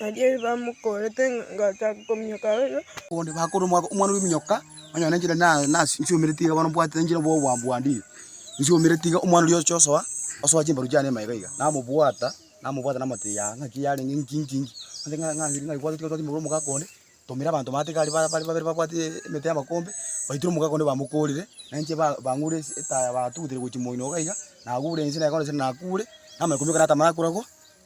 Nario ebamokorete ngachaka kominyoka oyo. Bonde bakore omwaka omwana ominyoka onye ne njira nasiomere tiga bono mbwate njira bwa obwambwandire nsiomere tiga omwana oria oche osoa osoa chimbaru chiane ime iga iga namobwata namobwata namotebi yaaaa ng'aki yarenge ng'inki ng'inki ng'inki ase ng'a ng'a ng'aki bwate tiga otware chimbaru omogaka onde tumira abanto bande tiga bare bare babere babwate emete y'amakombe baitire omogaka onde bamokorire na inche ba bang'ure ase etaya batugutire gochia moino iga iga nagure inse naye bono inse nakure namanya komioka natamara korago.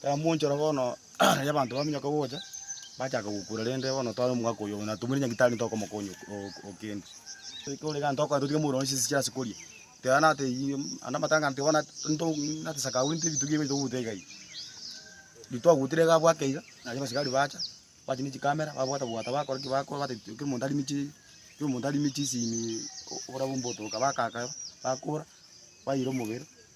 Tiramonchora bono riria abanto baminyoka gocha, bachaka gokura, rende bono tware omogaka oyomo, na tomoire nyagitari tokomokonya o kende. Ekero iga tokonya totige mourore chinse chiria ase koria, teba nate iyie naende amatanga nete bono nto nate sakau rinte ebitugi ebi togoutera iga iga. Riria twagoutire iga bwake iga, nario abasigari bacha, bacha ne chikamera, babwata bwata bakora ki bakora bata kera omonto arime chi kera omonto arime chisimi oborabu mbotoka bakaka, bakora, baira omobere.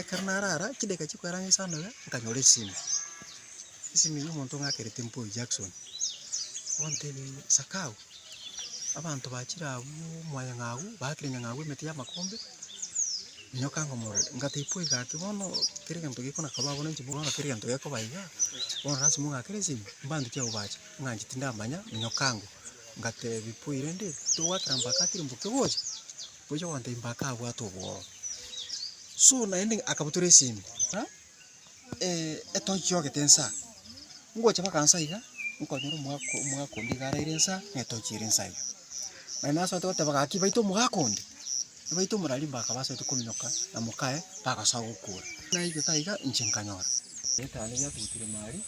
Ekero narara chidaeka chia koeranga esanobe, nkanyora esime, esime ya omonto ng'akerete Mpoi Jackson, ontebia ng'a sakao, abanto bachire abwo mwanyang'abu, baakire nyang'abu emete ya amakombe, nyoka ngomorore. Ngatebia Mpoi gaki bono kera egento gekona kaba abwo ninki bono kera egento gekoba igaa, bono lasima ong'akere esime, mbantoki abwo bache, ng'anche tindamanya, nyoka ngwa. Ngatebia Mpoi rende, togwakera mpaka tiri mboke ogocha? Gocha gwanteimba akabwata obworo. So naende akabutora esimi, ha? Eh, etochi yogete nsa. Ngocha baka nsa iga, nkonyora omwaka omwaka onde iga araire nsa, na etochi ere nsa iga. Naende nasoete goteba gaki baite omogaka onde, nibaite omorari mbaka basoete kominyoka na mokaye, bagosoa gokura. Naigete aiga, inche nkanyora. Egetanda giatugutire maria.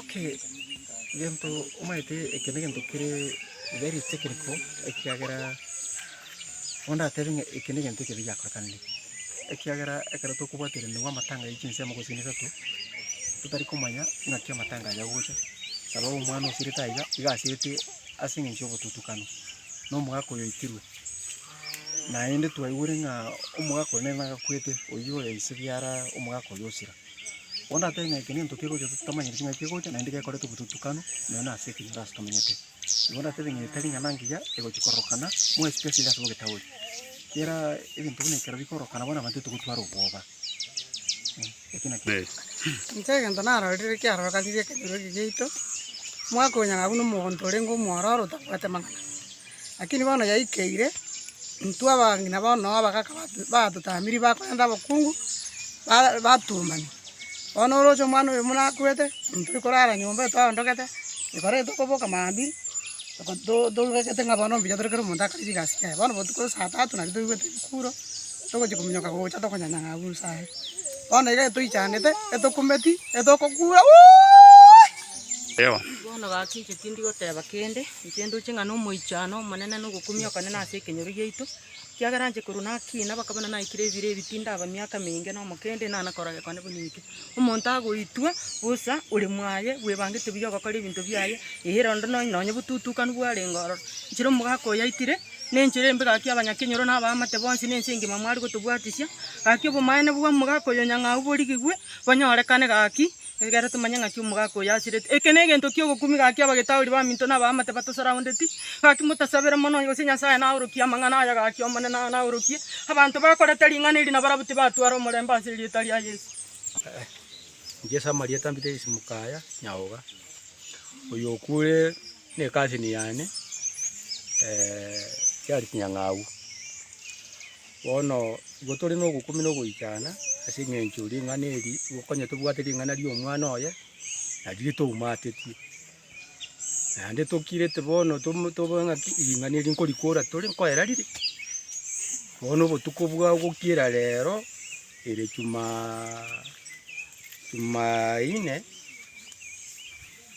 Okay, gento omanyete eke negento kere very technical ekiagera bono ndatebe ng'a eke negento ekebe giakorekanire, ekiagera ekero tokobwateranigwa amatanga ya chinsemo gose chine isato, totari komanya ng'aki amatanga aye agocha, sababu omwana osirete aiga, iga asirete ase eng'encho ya obotutukano na omogaka oyo oitirwe, naende twaigure ng'a omogaka oyo nere nagakwete oyio oyo ise biara omogaka oyo osira. Onde atebe ng'a eke nento kegocha ase totamanyeti ng'a kegocha, naende gekorete obotutukanu nonya nase ekenyoro ase tomenyete. Igo onde atebe ng'a etari ing'ana ngiya egochi kororokana, mwesike ase ase bogetauri. Kera egento buna ekero bikororokana bono abanto titogotwara obwoba. Ekio nakio. Inche egento narorire kiarorokanire ekenyoro eke giaito, mwakonyora buna omonto orenge omwororo otabwate mang'ana. Lakini bono yaikeire, intwe abang'ina bo Noa abagaka batotamirie bakorenta abokungu, ba- batuomani. Bono oroche omwana oyo buna akwete, intwe tori korara nyomba eye twaondokete, ekero eye tokoboka mambia, oko to- toigwete ng'a bono mbuya tore kera omonto akore chigasi chiaye. Bono botuko ase saa tatu nario toigwete rikuro, togochia kominyoka gocha tokonyanya ng'a abwo rusa are. Bono iga etoichanete, etokumeti, etokokura. Bono gaki inche tindi goteba kende. Inche ndoche ng'a nomoichano omonene na ogokumia okone nase ekenyoro giaito, ekiagera inche korwa nakiina mpaka bono naikire ebiro ebi tindaba miaka meinge na omokendi nang'ana korora gokone buna eke. Omonto agoitwa bosa ore mwaye bwebangete buya ogokora ebinto biaye, eira onde nonya nonya obotutukanu bwarenge ororo. Nchire omogaka oyo aitire, na enchera embe gaki abanyakenyoro na abaamate bonsi na ense engima mware gotobwatisia, gaki obomaene bwa omogaka oyo nyang'au borigigwe, bonyorekane gaki, Ekero tomanye ng'aki omogaka oyo asireti, eke negento ki'ogokumi, gaki abagetauri baminto na abaamate batosaroundeti, gaki motasabere mono, gose Nyasaye naorokie amang'ana aya, gaki Omonene naorokie abanto bakorete ring'ana eri na barabwo tibatwara omorembe ase erieta ria Yeso. Inche ase amarieta mbire isiko mokaya, Nyaoga, oyo okure. Ne cousin yane chiari chinyang'au. Bono igo tore na ogokumi na ogoichana ase eng'encho ring'ana eri igo konya tobwate ring'ana ria omwana oye nario ritoumatetie. Naende tokirete bono tomo tobe ng'aki ring'ana eri nkorikora tore nkoera rire. Bono obotuko bwa gokira rero ere jumaa jumaine.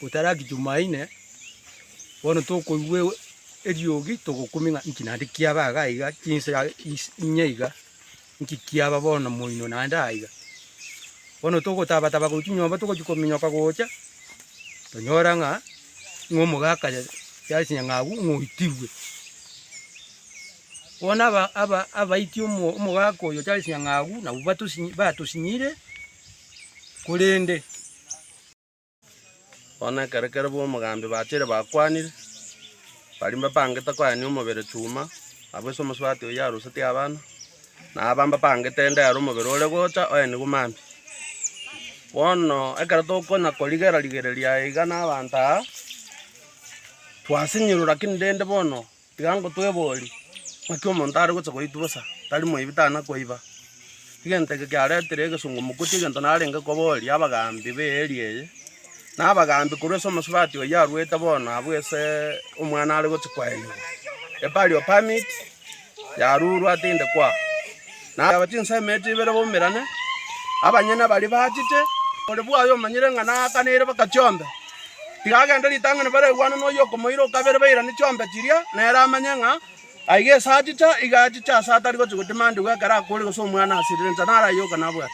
Gotaraki Jumaine, bono tokoigwa eriogi togokumia ng'a inki naende kiaba iga aiga chinswe aa is inye iga, inki kiaba bono moino naende aiga. Bono togotaba taba korwa chinyomba togochia kominyoka gocha, tonyora ng'a ng'a omogaka ya yare chinyang'abu ng'a oitigwe. Bono aba aba abaiti omo omogaka oyo chare chinyang'abu nabwo batosinyi batosinyire korende. Bono ekero kere b'omogambi bacheire bakwanire, baria mbabangete koyania omobere chuma, abwo ase omosubati oyio arusetie abana, na aba mbabangete ende ere omobere ore gocha oenigwe maambia. Bono ekero tokonya korigera rigereria iga na abanto aa, twasinyirwe, rakini rende bono. Tiga ngotweborie, ng'aki omonto are gocha goitwa bosa, tari moibi, tana koiba? Egento eke kiaretire egesongo mogotie egento narenge koboria abagaambi b'eeria eye. Na abagaambi korwa ase omosubati oyio arwete bono abwo ase omwana are gochia kwaenerwa, a burial permit yarurwa atiinde kwao. Na aba chinsemo emete ibere baumerane, abanyene baria baachete, ore bwaye omanyire ng'a naakanaire baka chiombe. Tiga agende ritang'ani bare aigwane noyio okomoira o kabere bairane chiombe chiria, nere amanye ng'a aiga esachicha, iga achiche ase atari gochia gotimandigwa ekero akoorire gose omwana asirire inse naro aye oka nabwate.